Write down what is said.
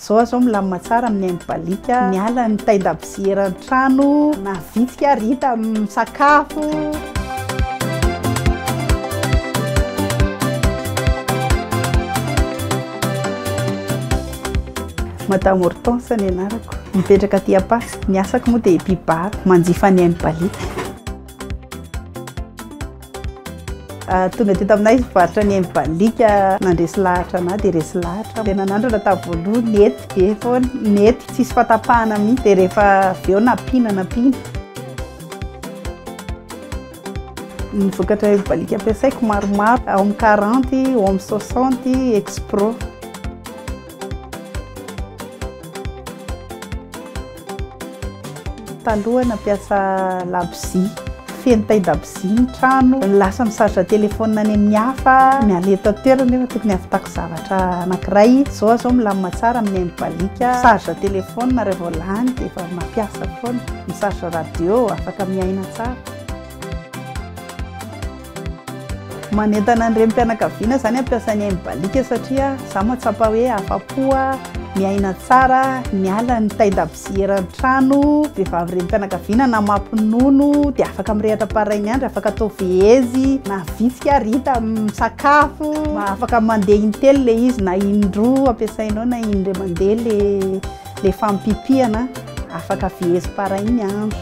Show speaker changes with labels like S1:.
S1: Zao aho zao milamina tsara amin'ny aim-baliaka Miala ny tain-dabozy eran-trano Na vitsika ary hita misakafo Madame Hortense ny anarako, mipetraka aty Apax, ny asako moa dia mpibary, manjifa ny aim-baliaka. Tonga teto aminay varotra ny aim-baliaka nandresy lahatra anah dia resy lahatra aho. Dia nanandrana tamin'ny voalohany nety be foana, nety tsisy fahatapahana mihitsy dia rehefa avy eo nampiana nampiana. Ny vokatra aim-baliaka ampiasaiko maromaro ao amin'ny quarante, ao amin'ny soixante, expro. Taloha nampiasa labozia, feno tain-dabozia ny trano, lasa mi-charge telefaonina any amin'ny hafa, miala eto an-toerana nefa tokony hahavitako zavatra anankiray, izao aho izao milamina tsara amin'ny aim baliaka, mi-charge telefaonina raha vao lany dia efa mampiasa foana, mi-charge radio afaka miaina tsara. Manentana ny renim-pianakaviana izany hampiasa ny aim-baliaka satria izaho mahatsapa hoe afa-po aho miaina tsara, miala ny tain-dakozia eran'ny trano, vehivavy renim-pianakaviana na mampinono dia afaka mirehatra par rain'i Andry, afaka atao vehezy na vitsika ary hita misakafo, afaka mandeha in-telo ilay izy na in-droa ampiasainao na in-dray mandeha ilay ilay fampipihana, afaka vehezy par rain'ny Andry.